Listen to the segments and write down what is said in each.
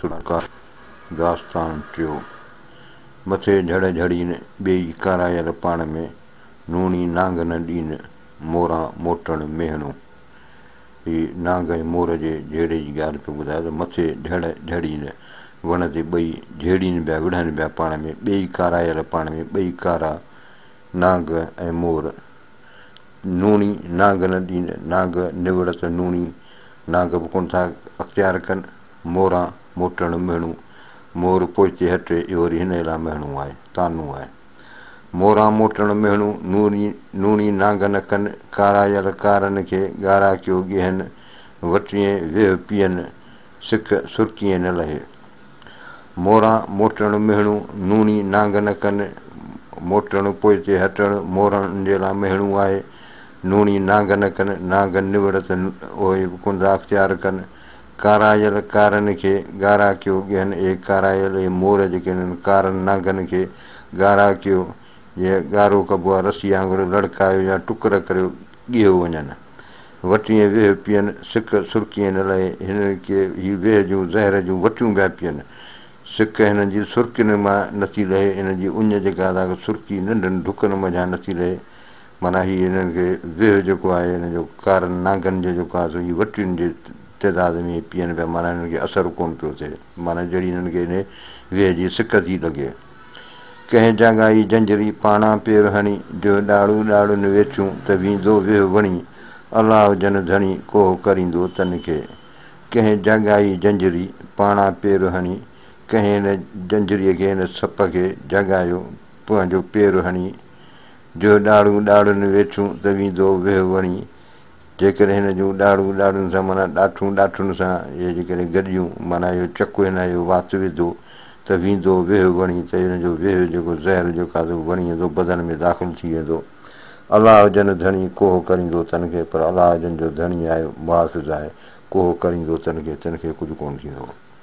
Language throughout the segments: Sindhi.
سرڪار داستان ٽيو. مٿي جھڙ جھڙين ٻيئي ڪارايل پاڻ ۾، نوڻي نانگ نه ڏين موران موٽڻ ميهڻو. هي نانگ ۽ مور جي جهيڙي جي ڳالهه پيو ٻڌائي ته مٿي جھڙ جھڙين وڻ تي ٻئي جهيڙين پيا وڙهن پيا پاڻ ۾ ٻيئي ڪارايل پاڻ ۾ ٻئي ڪارا نانگ ۽ مور نوڻي نانگ نه ڏين نانگ نوڙ ته نوڻي نانگ به ڪونه ٿا اختيار ڪن. موران موٽڻ مهڻو، مور پهچي هٽي، اهو وري هن ئي لاء مهڻو آهي، طعنو آهي. موران موٽڻ مهڻو، نوري نوڻي نانگ نه ڪن، ڪارايل ڪارن کي ڳارا ڪيو ڳيهن، وٽيين ويهه پيئن، سڪ سرڪيين نه لهي. موران موٽڻ مهڻو، نوڻي نانگ نه ڪن، موٽڻ پوئتي هٽڻ، مورڻ ان جي لاء مهڻو آهي، نوڻي نانگ نه ڪن، نانگ نوڙت اهي به ڪندا اختيار ڪن، ڪارايل ڪارن کي ڳارا ڪيو ڳهن اي ڪارايل اي مور جيڪي انهن ڪارن نانگن کي ڳارا ڪيو جي ڳارو ڪبو آ رسي آنگر لڙڪايو يا ٽڪر ڪريو ڳهيو وڃن وٽين ويهه پين سڪ سرڪين نه لهي هن کي هي ويهه جون زهر جون وٽيون پيا پين سڪ هنن جي سرڪين مان نٿي لهي هنن جي اڃ جيڪا آ سا سرڪي ننڍن ڍڪن منجهان نٿي لهي معنيٰ هي هنن کي زهه جيڪو آهي هنن جو ڪارن نانگن جو جيڪو آهي سو هي وٽين جي تعداد ۾ پيئن پيا معنيٰ هنن کي اثر ڪونه پيو ٿئي معنيٰ جهڙي هنن کي انهي زهه جي سڪ ٿي لڳي. ڪنهن جاڳائي جنجري پاڻان پير هڻي جو ڏاڙهون ڏاڙهن ويٺيون ته ويندو ويهه وڻي الله هجن ڌڻي ڪوهه ڪريندو تن کي ڪنهن جاڳائي جنجري پاڻان پير هڻي ڪنهن هن جنجريء کي هن سپ کي جاڳايو پنهنجو پير هڻي جو ڏاڙهون ڏاڙهن ويٺيون ته ويندو ويهه وڻي. جيڪڏهن هن جون ڏاڙهون ڏاڙهن سان معنيٰ ڏاٺون ڏاٺن سان يا جيڪڏهن گڏيون معنيٰ اهو چڪ هن اهو وات وڌو ته ويندو ويهه وڻي ته ان جو ويهه جيڪو زهر جو کاڌو وڻي اندو بدن ۾ داخل ٿي ويندو. الله جن ڌڻي ڪوهه ڪريندو تن کي پر الله جن جو ڌڻي آهي محافظ آهي ڪوهه ڪريندو تن کي تن کي ڪجهه ڪونه ٿيندو.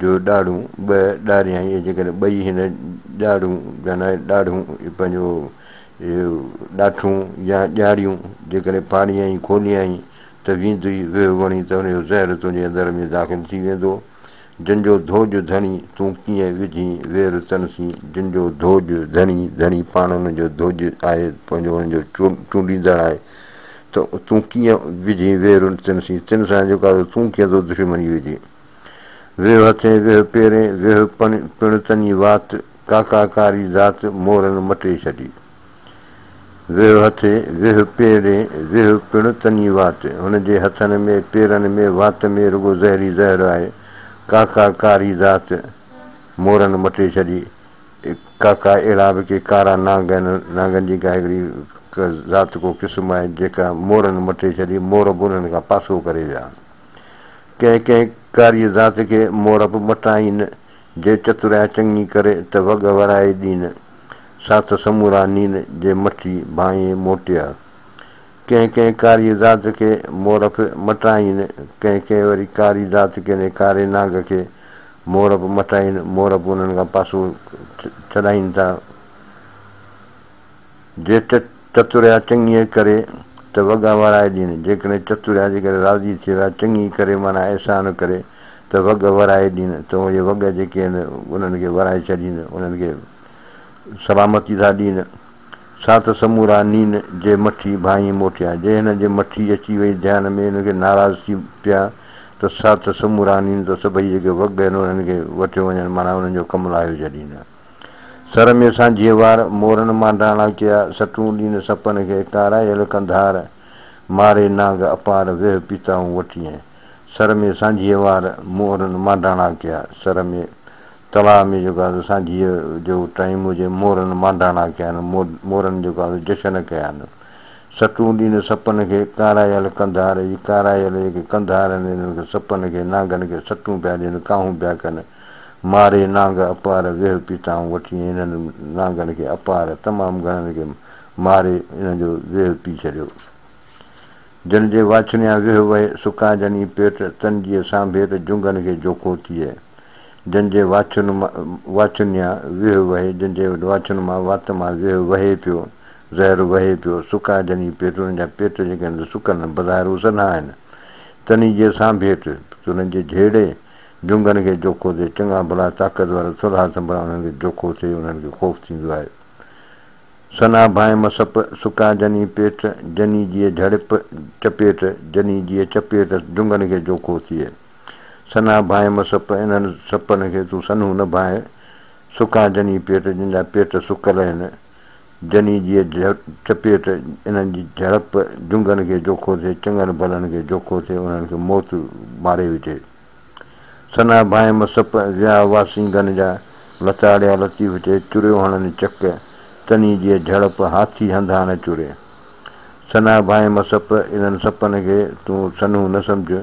جو ڏاڙهون به ڏاريائين ۽ جيڪڏهن ٻئي هن ڏاڙهون جا نه ڏاڙهون پنهنجو ڏاٺون يا ڄاڙيون جيڪڏهن ڦاڙيائين کوليائين ته ويندي ويهه وڻي ته ان جو زهر تنهنجي اندر ۾ داخل ٿي ويندو جن جو ڌوڄ ڌڻي تون ڪيئن وجهين وير تن سين جن جو ڌوڄ ڌڻي ڌڻي پاڻ انهن جو ڌوڄ آهي پنهنجو انهن جو چونڊيندڙ آهي ته تون ڪيئن وجهين وير تن سين تن سان جيڪا تون ڪيئن ٿو دشمني وجهين. ويهه هٿين ويهه پيرين ويهه پڻ تني وات ڪاڪا ڪاري ذات مورن مٽي ڇڏي. ويهه هٿين ويهه پيرين ويهه پڻ تني وات هن جي هٿن ۾ پيرن ۾ وات ۾ رڳو زهر ئي زهر آهي ڪاڪا ڪاري ذات مورن مٽي ڇڏي ڪاڪا اهڙا به ڪي ڪارا نانگ آهن نانگن جي ڪا هڪڙي ذات ڪو قسم آهي جيڪا مورن مٽي ڇڏي مور به انهن کان پاسو ڪري ويا ڪنهن ڪنهن ڪاري ذات کي مورب مٽائين، جي چترائي چڱي ڪري ته وڳهه ورائي ڏين، سا ته سمورا نين جي مٺي ڀانئي موٽيا. ڪنهن ڪنهن ڪاري ذات کي مورب مٽائين، ڪنهن ڪنهن وري ڪاري ذات ڪنهن ڪاري نانگ کي مورب مٽائين، مورب انهن کان پاسو ڇڏائين ٿا. جي چتوريا چڱيء ڪري ته وڳا ورائي ڏين، جيڪڏهن چتوريا جي ڪري راضي ٿي ويا، چڱيء ڪري معنيٰ احسان ڪري ته وڳ ورائي ڏين، ته اهي وڳ جيڪي هن انهن کي ورائي ڇڏين، انهن کي سلامتي ٿا ڏين، سا ته سمورا نين جي مٺي ڀانئي موٽيا، جي هنن جي مٺي اچي وئي ڌيان ۾ انهن کي ناراض ٿي پيا ته سا ته سمورا نين ته سڀئي جيڪي وڳ آهن انهن کي وٺيو وڃن معنيٰ انهن جو ڪم لاهيو ڇڏين. سر ۾ سانجهي وار، مورن مانڊاڻا ڪيا، سٽون ڏين سپن کي، ڪارايل ڪنڌار، ماري نانگ اپار، ويهه پيتائون وٽيين. سر ۾ سانجهي وار، مورن مانڊاڻا ڪيا، سر ۾ تلاء ۾ جيڪو آهي سو سانجهيء جو ٽائيم هجي، مورن مانڊاڻا ڪيائين، مورن جيڪو آهي سو جشن ڪيائين. سٽون ڏين سپن کي، ڪارايل ڪنڌار، هي ڪارايل جيڪي ڪنڌار آهن، انهن کي سپن کي، نانگن کي سٽون پيا ڏين، ڪاهون پيا ڪن. ماري نانگ اپار ويهه پيتائون وٺي ۽ انهن نانگن کي اپار تمام گهڻن کي ماري انهن جو ويهه پي ڇڏيو. جن جي واڇنيان ويهه وهي سڪائجن ئي پيٽ تن جيء سانڀي ته جنگهن کي جوکو ٿئي. جن جي واڇنيان ويهه وهي جن جي واڇن مان وات مان ويهه وهي پيو، زهر وهي پيو، سڪائجن ئي پيٽ انهن جا پيٽ جيڪي هن سڪن بظاهر هو سنها آهن تن ئي جيء سانڀيٽ ته انهن جي جهيڙي، جهنگن کي جوکو ٿئي، چڱا ڀلا طاقتور ٿلها ٿنڀڙا انهن کي جوکو ٿئي، انهن کي خوف ٿيندو آهي. ثنا ڀانء مسپ، سڪا جني پيٽ، جني جيء جهڙپ، چپيٽ، جني جيء چپيٽ، جهنگن کي جوکو ٿئي. ثنا ڀانء مسپ، انهن سپن کي تون سنهون نه ڀانء، سڪا جني پيٽ، جن جا پيٽ سڪل آهن، جني جيء چپيٽ، انهن جي جهڙپ، جهنگن کي جوکو ٿئي، چڱن ڀلن کي جوکو ٿئي، انهن کي موت ماري وجهي. سنا ڀانء مصپ، ويا هئا سينگن جا، لتاڙيا لطيف چئي، چريو هڻن چڪ، تني جيء جهڙپ، هاٿي هنڌان نه چري. سنا ڀانء مصپ، انهن سپن کي تون سنهون نه سمجهه،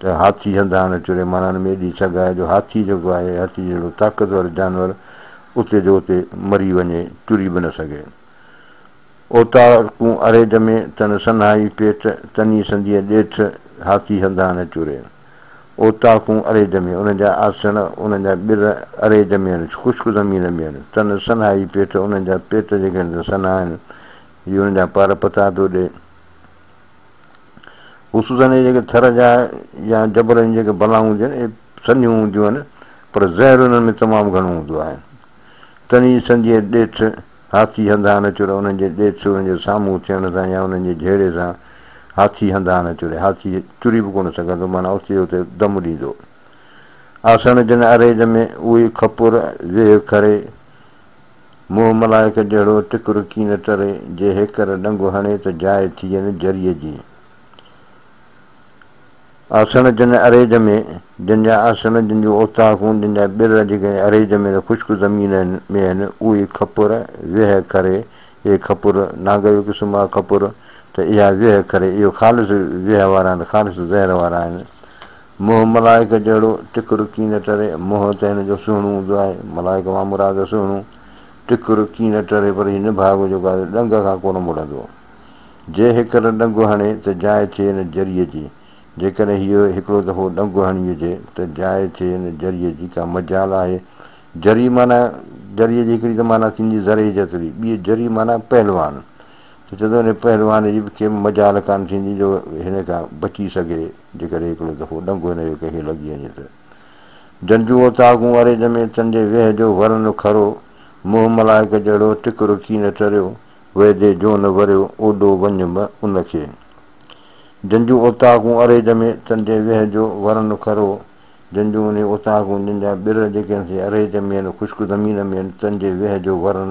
ته هاٿي هنڌ هاڻي ٽڙي ماڻهن ۾ ايڏي سگهه آهي جو هاٿي جيڪو آهي هاٿي جهڙو طاقتور جانور اتي جو اتي مري وڃي ٽري به نه سگهي. اوطاقون اري ڄمي تن سنهائي پيٽ تني سنديء ڏيٺ هاٿي هنڌ هاڻي ٽري. اوطاقون اري ڄمي انهن جا آسڻ انهن جا ٻر اري ڄمين خشڪ زمين مين تن سنهائي پيٽ انهن جا پيٽ جيڪي هن تي سنهائن هي انهن جا پار پتا پيو ڏي. خصوصن اهي جيڪي ٿر جا يا جبل جون جيڪي بلائون هونديون آهن، اهي سنيون هونديون آهن، پر زهر انهن ۾ تمام گهڻو هوندو آهي. تنهن جي سنديء ڏيٺ، هاٿي هنڌان نه چري، انهن جي ڏيٺ، انهن جي سامهون ٿيڻ سان يا انهن جي جهيڙي سان هاٿي هنڌان نه چري. هاٿي چري به ڪونه سگهندو، معنيٰ اتي جو اتي دم ڏيندو. آسڻ جن اريج ۾، اهي کپر، ويهه کري، موهه ملائڪ جهڙو ٽڪر ڪين تري، جي هيڪر ڏنگو هڻي ته جاء ٿين جريء جي. آسڻ جن اريج ۾، جن جا آسڻ، جن جون اوطاقون، جن جا ٻر جيڪي اريج ۾ ته خشڪ زمين ۾ آهن، اهي کپر، ويهه کري، اهي کپر، نانگيو قسم آ کپر، ته اها ويهه کري، اهي خالص ويهه وارا آهن، خالص زهر وارا آهن. منهن ملائڪ جهڙو، ٽڪ رڪي نه ٽري، منهن ته هن جو سهڻو هوندو آهي، ملائڪ مان مراد سهڻو، ٽڪ رڪي نه ٽري پر هي نڀاڳو جيڪو آهي ڏنگ کان ڪونه مڙندو. جي هڪر ڏنگ هڻي ته جاء ٿئي نه جريء جي، جيڪڏهن هيء هڪڙو دفعو ڏنگ هڻي وجهي ته جاء ٿئي نه جريء جي ڪا مجال آهي؟ جري معنيٰ جريء جي هڪڙي ته معنيٰ ٿيندي زرعي جتري، ٻيء جري معنيٰ پهلوان، ته چتو انهيء پهلوان جي به ڪي به مجال ڪانه ٿيندي جو هن کان بچي سگهي. جيڪڏهن هڪڙو دفعو ڏنگو هن جو ڪنهن کي لڳي وڃي ته. جنجون اوطاقون اريج ۾ چندي ويهه جو ورن کرو، منهن ملائڪ جهڙو ٽڪ رڪي نه چريو، ويدي جو نه وريو اوڏو وڃ م ان کي. جنجون اوطاقون اريج ۾ چندي ويهه جو ورن کرو، جنجون انهي اوطاقون جن جا ٻر جيڪي انهي اريج ۾ ين خشڪ زمين ۾ ين چندي ويهه جو ورن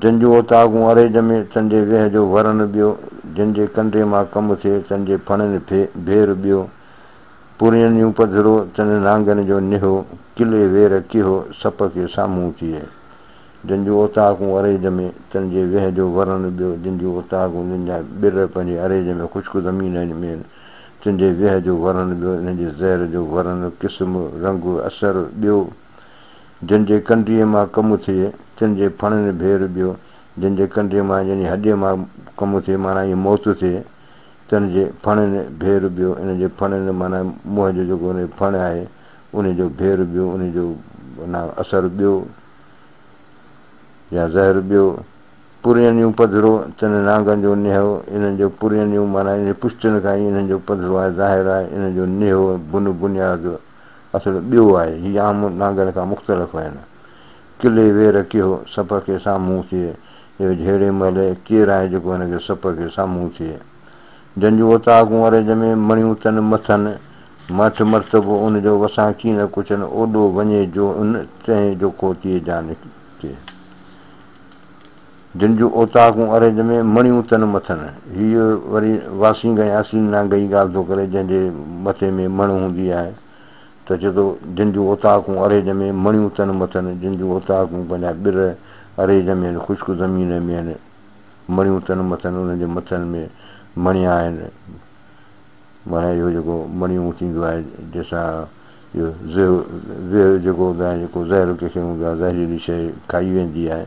جن جون اوطاقون اري ڄمي، تن جي ويهه جو ور نٻيو، جن جي ڪنڊي مان ڪم ٿئي، تن جي ڦڻين ڦي ڀي رٻيو، پورين يون پڌرو، تن نانگن جو نهو، ڪلي وير ڪيهو، سپ کي سامهون ٿئي. جن جون اوطاقون اري ڄمي، تن جي ويهه جو ور نٻيو، جن جون اوطاقون جن جا ٻر پنهنجي اري ڄمي خشڪ زمينن ۾ آهن، تن جي ويهه جو ور نٻيو، انهن جي زهر جو ورن، قسم، رنگ، اثر، ٻيو، جنھن جي ڪنڊيء مان ڪم اٿئي، تنھن جي ڦڻين ڀير ٻيو، جنھن جي ڪنڊيء مان يعني ھڏيء مان ڪم اٿئي، معنيٰ ائين موت اٿئي، تنھن جي ڦڻين ڀير ٻيو، انھيء جي ڦڻين معنيٰ موھين جو جيڪو انھيء جي ڦڻ آھي، انھيء جو ڀير ٻيو، انھيء جو معنيٰ اثر ٻيو يا زھر ٻيو. پرينيون پڌرو، تنھن نانگن جو نيھو، انھن جو پرينيون معنيٰ انھيء پشتين کان ئي انھن جو پڌرو آھي، ظاھر آھي، انھيء جو نيھو، بنھه، بنياد، اصل ٻيو آهي، هي عام نانگن کان مختلف آهن. ڪلي وير ڪيو، سپ کي سامهون ٿئي، اهو جهڙي مهل ڪير آهي جيڪو هن کي سپ کي سامهون ٿئي. جن جون اوطاقون عرج ۾ مڻيون تن مٿن، ماٺ مرتبو ان جو وسان ڪي نه ڪڇن اوڏو وڃي جو ان تنهي جوکو تيئي جان ٿئي. جن جون اوطاقون اريج ۾، مڻيون تن مٿن. هيء وري واسينگ ۽ اسين نانگ جي ڳالهه ٿو ڪري، جنهن جي مٿي ۾ مڻ هوندي آهي، ته چئي ٿو، جن جون اوطاقون اريج ۾، مڻيون تن مٿن، جن جون اوطاقون پنهنجا ٻر اريج ۾ آهن، خشڪ زمين ۾ آهن، مڻيون تن مٿن، انهن جي مٿن ۾ مڻيا آهن، معنيٰ اهو جيڪو مڻيون ٿيندو آهي، جنهن سان اهو زهو، زهه جيڪو هوندو آهي، جيڪو زهر ڪنهن کي هوندو آهي، زهريلي شيء کائي ويندي آهي،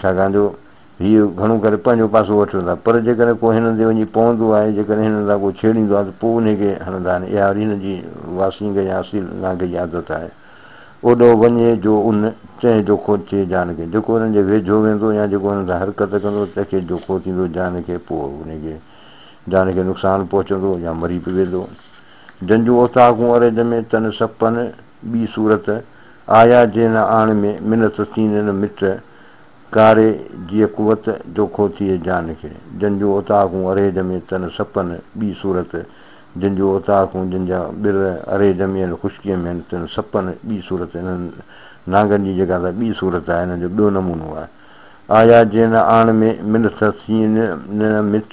ڇاڪاڻ جو هي گهڻو ڪري پنهنجو پاسو وٺن ٿا، پر جيڪڏهن ڪو هنن تي وڃي پوندو آهي، جيڪڏهن هنن سان ڪو ڇيڙيندو آهي ته پوء انهي کي هڻندا آهن، اها وري هنن جي واسينگه يا اصيل نانگي جي عادت آهي. اوڏهو وڃي جو ان چنهن جوکو چي جان کي، جيڪو هنن جي ويجهو ويندو يا جيڪو هنن سان حرڪت ڪندو تنهن کي جوکو ٿيندو جان کي، پوء انهي کي جان کي نقصان پهچندو يا مري به ويندو. جنجون اوطاقون اريج ۾ تن سپن، ٻي صورت، آيا جي نه آڻ ۾ منت سين نه مٽ ڪاري جيء قوت جو کو ٿئي جان کي جن جون اوطاقون ارهي جمي تن سپن ٻي صورت جن جون اوطاقون جن جا ٻر ارهي جمين خشڪي ۾ هن تن سپن ٻي صورت انهن نانگن جي جيڪا ته ٻي صورت آهي انهن جو ٻيو نمونو آهي آيا جي نه آڻ ۾ منت سين نه مٽ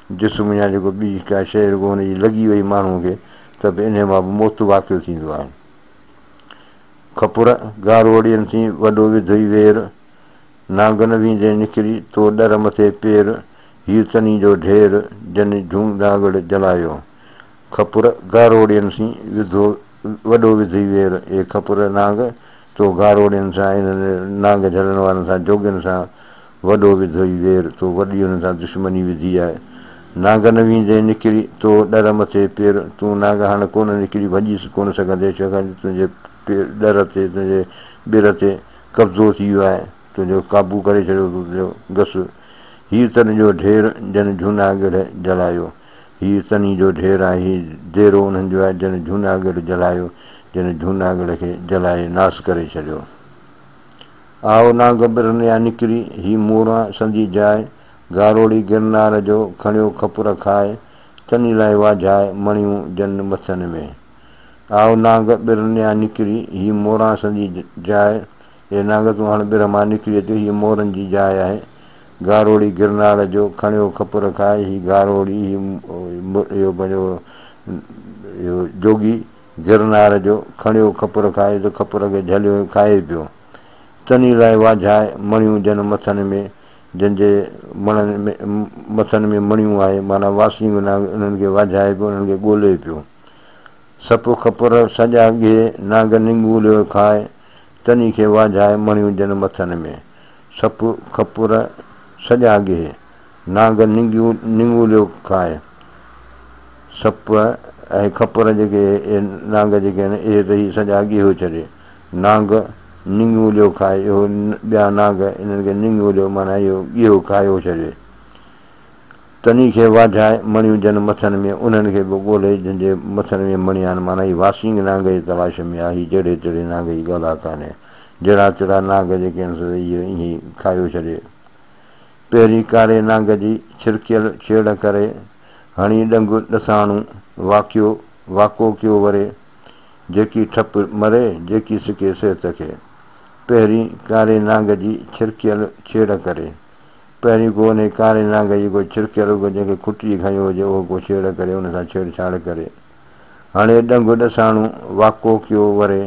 جسم يا جيڪو ٻي ڪا شيء رڳو ان جي لڳي وئي ماڻهوء کي ته به انهيء مان به موت واقع ٿيندو آهي. کپر، گاروڙين ٿي وڏو وڌئي وير، نانگن ويندين نکري تو ڏر مٿي پير، هيء تنين جو ڍير، جنھن جھونگداڳڙ جلايو. کپر گاروڙين سين وڌو وڏو وڌي وير اي کپر نانگ تو گاروڙين سان انهن نانگ جهلڻ وارن سان جوڳين سان وڏو وڌوئي وير تو وڏي انهن سان دشمني وڌي آء نانگ نه ويندين نڪري تو ڏر مٿي پير تون نانگ هاڻ ڪونه نڪري ڀڄيس ڪونه سگهندين ڇاڪاڻ تنهنجي ڏر تي تنهنجي ٻر تي قبضو ٿي ويو آء تنهنجو قابو ڪري ڇڏيو تو تنهنجو گس هير ترن جو ڍير جن جهونا گڙهه جلايو. هيء تني جو ڍير آهي، هيء ديرو انهن جو آهي، جن جهوناڳڙهه جلايو، جن جهوناڳڙهه کي جلائي ناس ڪري ڇڏيو. آء ناگبرن يا نڪري، هي موران سندي جاء، گاروڙي گرنار جو، کڻيو کپر کاء، تني لاء واجهاء، مڻيون جن مٿن ۾. آء ناگبرن يا نڪري، هي موران سندي جاء، اي نانگ تون هاڻ ٻر مان نڪري اچ، هيء مورن جي جاء آهي. گاروڙي گرناڙ جو کڻيو کپ رکائي، هي گاروڙي، هي اهو پنهنجو اهو جوڳي گرناڙ جو کڻيو کپ رکائي ته کپ رکي جهليو ۽ کائي پيو. تني لاء واجهائي مڻيون جن مٿن ۾، جن جي مڻن مٿن ۾ مڻيون آهي، معنيٰ واسينگ نانگ انهن کي واجهائي پيو، انهن کي ڳولي پيو. سپ کپر سڄا ڳهي، نانگ نڱوليو کائي، تني کي واجهائي مڻيون جن مٿن ۾، سپ کپر سڄا گيهي، نانگ ننگيون نڱوليو کائي، سپ ۽ کپر جيڪي اهي نانگ جيڪي آهن اهي ته هي سڄا گيهو ڇڏي، نانگ نڱوليو کائي اهو ٻيا نانگ انهن کي نڱوليو معنيٰ اهو گيهو کايو ڇڏي. تنھن کي واجھائي مڻيون جن مٿن ۾، انھن کي به ڳولي جن جي مٿن ۾ مڻيا آھن، معنيٰ ھي واسينگ نانگ جي تلاش ۾ آ، ھي جهڙي تهڙي نانگ جي ڳالھه ڪانھي، جهڙا تهڙا نانگ جيڪي آھن سو ته اهي ائين ئي کايو ڇڏي، پهرين ڪاري نانگ جي ڇرڪيل ڇيڙ ڪري، ھڻي ڏنگ ڏساڻو، واڪيو واڪو ڪيو وري، جيڪي ٺپ مري، جيڪي سڪي صحت کي، پهرين ڪاري نانگ جي ڇرڪيل ڇيڙ ڪري. پهرين ڪو انهيء ڪاري نانگ جي ڪو ڇرڪيل اگهه جنهن کي کٽجي کنيو هجي اهو ڪو ڇيڙ ڪري ان سان ڇيڙ ڇاڙ ڪري هڻي ڏنگ ڏساڻو واڪو ڪيو وري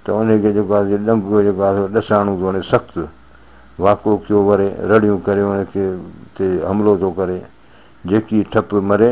ته انهيء کي جيڪو آهي سو ڏنگ جيڪو آهي سو ڏساڻو ٿو هڻي سخت واڪو ڪيو وري رڙيون ڪري ان کي تي حملو ٿو ڪري جيڪي ٺپ مري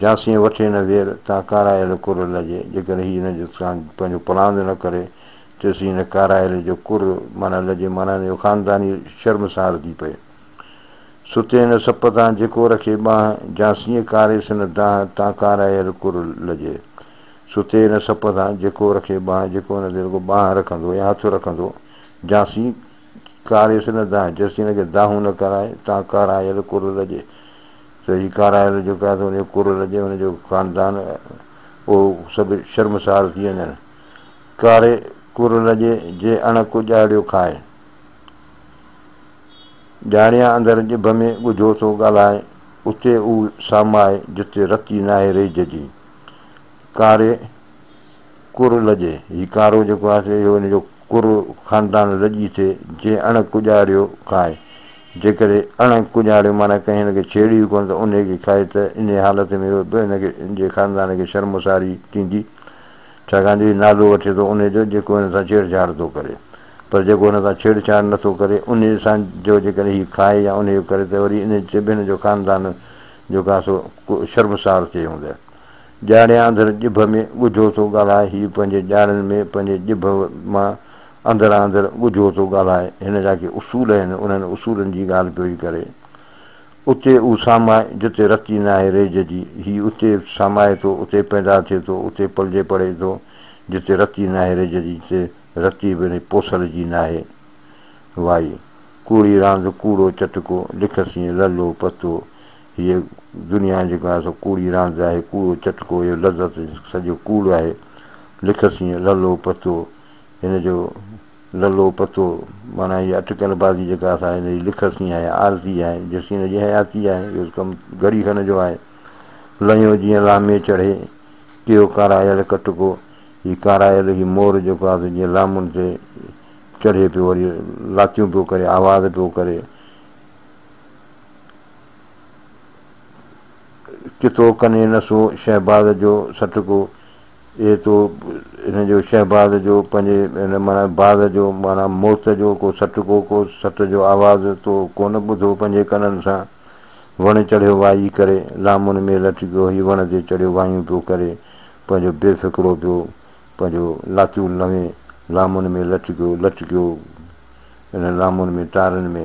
جاسين وٺي نه وير، تان ڪارايل ڪر لڄي. جيڪڏهن هي هن جو سان پنهنجو پلاند نه ڪري، تيس هي هن ڪارايل جو ڪر معنيٰ لڄي معنيٰ هن جو خانداني شرم سان هلندي پئي. ستي نه سپ تان جيڪو رکي ٻانهه، جاسين ڪاريس نه دانهه، تان ڪارايل ڪر لڄي. ستي نه سپ تان جيڪو رکي ٻانهه، جيڪو هن تي رڳو ٻانهه رکندو يا هٿ رکندو، جاسين ڪاريس نه دانهه، جيسين هن کي دانهون نه ڪرائي، تان ڪارايل ڪر لڄي. سو هي ڪارائل جيڪو آهي سو ان جو ڪرڙ لڳي ان جو خاندان اهو سڀ شرمسار ٿي وڃن. ڪاري ڪرڙ لڳي جي اڻ ڪو ڄاڙيو کائي. ڄاڻيان اندر ڄڀ ۾ ڳجهو ٿو ڳالهائي اتي اهو سامائي جتي رتي ناهي ريج جي. ڪاري ڪرڙ لڳي هي ڪارو جيڪو آهي سو اهو ان جو ڪرڙ خاندان لڄي ٿئي جي اڻ ڪو ڄاڙيو کائي. جيڪڏهن اڻ ڪڄاڻيو معنيٰ ڪنهن هن کي ڇيڙيو ڪونه ته انهيء کي کائي ته انهيء حالت ۾ به هن کي هن جي خاندان کي شرمساري ٿيندي، ڇاڪاڻ جو هي نالو وٺي ٿو انهيء جو جيڪو هن سان ڇيڙڇاڙ ٿو ڪري. پر جيڪو هن سان ڇيڙڇاڙ نه ٿو ڪري انهيء سان جو جيڪڏهن هي کائي يا انهيء جو ڪري ته وري انهيء تي به هن جو خاندان جو ڪا سو شرمسار ٿئي هوند. ڄاڻي آنڌر ڄڀ ۾ ڳجهو ٿو ڳالهائي، هي پنهنجي ڄاڻن ۾ پنهنجي ڄڀ مان اندران اندر ڳجهو ٿو ڳالهائي، هن جا ڪي اصول آهن، انهن اصولن جي ڳالهه پيو ئي ڪري. اتي اهو سامائي، جتي رتي ناهي ريج جي، هي اتي سامائي ٿو، اتي پيدا ٿئي ٿو، اتي پلجي پڙهي ٿو، جتي رتي ناهي ريج جي، جتي رتي به پوسل جي ناهي. وائي! ڪوڙي راند، ڪوڙو چٽڪو، لک سين للو پتو. هيء دنيا جيڪا آهي سو ڪوڙي راند آهي، ڪوڙو چٽڪو، اهو لذت سڄو ڪوڙ آهي. لک سين للو پتو. هن جو للو پتو معنيٰ هيء اٽڪل بازي جيڪا اسان هن جي لکت سين آهي، عارضي آهي، جس سين هن جي حياتي آهي، اهو ڪم گهڙي کن جو آهي. لنيو جيئن لامي چڙهي، ڪيو ڪارايل ڪٽڪو، هي ڪارايل هي مور جيڪو آهي سو جيئن لامن تي چڙهي پيو وري لاتيون پيو ڪري، آواز پيو ڪري. ڪتو ڪني نسو شهباز جو سٽڪو، اهي تو هن جو شهباز جو پنهنجي هن معنيٰ باز جو معنيٰ موت جو ڪو سٽ ڪو ڪو سٽ جو آواز تو ڪونه ٻڌو پنهنجي ڪنن سان وڻ چڙهيو وائي ڪري لامن ۾ لٽ ڪيو هي وڻ تي چڙهيو وايون پيو ڪري پنهنجو بي فڪرو پيو پنهنجو لاتيون لنوي لامن ۾ لٽ ڪيو لٽ ڪيو انهن لامن ۾ ٽارن ۾.